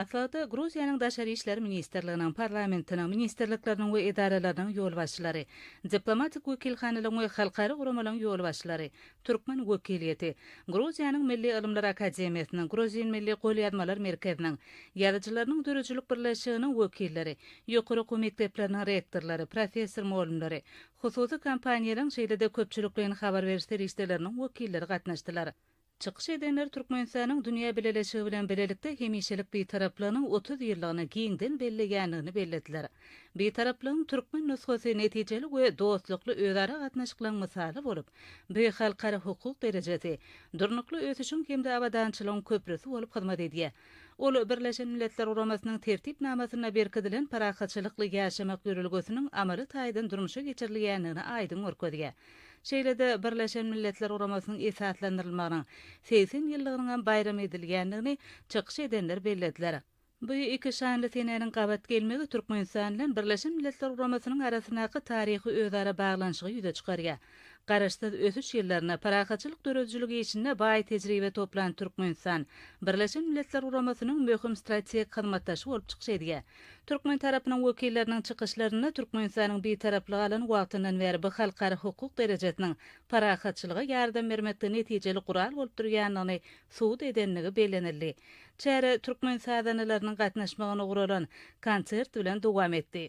Maslahata Gruziýanyň Daşary işler ministrliginiň, parlamentiniň, ministrlikleriniň we edaralarynyň ýolbaşçylary, diplomatik wekilhanalaryň we halkara guramalaryň ýolbaşçylary, türkmen wekiliýeti, Gruziýanyň Milli ylymlar akademiýasynyň, Gruzin milli golýazmalar merkeziniň, Ýazyjylarynyň döredijilik birleşiginiň wekilleri, ýokary okuw mekdepleriniň rektorlary, professor-mugallymlary, hususy kompaniýalaryň şeýle-de köpçülikleýin habar beriş serişdeleriniň wekilleri gatnaşdylar. Çykyş edenler Türkmenistanyň dünýä bileleşigi bilen bilelikde hemişelik Bitaraplygynyň otuz ýyllygyny giňden belleýändigini bellediler. Bitaraplygyň türkmen nusgasy netijeli we dostlukly özara gatnaşyklaryň mysaly bolup, bu halkara hukuk derejesi, durnukly ösüşiň hem-de abadançylygyň köprüsi bolup hyzmat edýär. Ol Birleşen Milletler Guramasynyň Tertipnamasynda berkidilen parahatçylykly ýaşamak ýörelgesiniň amaly taýdan durmuşa geçirilýändigini aýdyň görkezýär. Şeýle-de Birleşen Milletler Guramasynyň esaslandyrylmagynyň segsen ýyllygynyň hem baýram edilýändigini çykyş edenler bellediler. Bu iki şanly senäniň gabat gelmegi Türkmenistan bilen Birleşen Milletler Guramasynyň arasyndaky taryhy özara baglanyşygy ýüze çykarýar. Garaşsyz ösüş ýyllarynda parahatçylyk döredijilik işinde baý tejribe toplan Türkmenistan Birleşen Milletler Guramasynyň möhüm strategik hyzmatdaşy bolup çykyş edýär. Türkmen tarapynyň wekilleriniň çykyşlarynda Türkmenistanyň Bitaraplygy alan wagtyndan bäri bu halkara hukuk derejesiniň parahatçylyga ýardam bermekde netijeli gural bolup durýandygyny subut edendigi bellenildi. Çäre türkmen sazandalarynyň gatnaşmagyna guralan konsert bilen dowam etdi.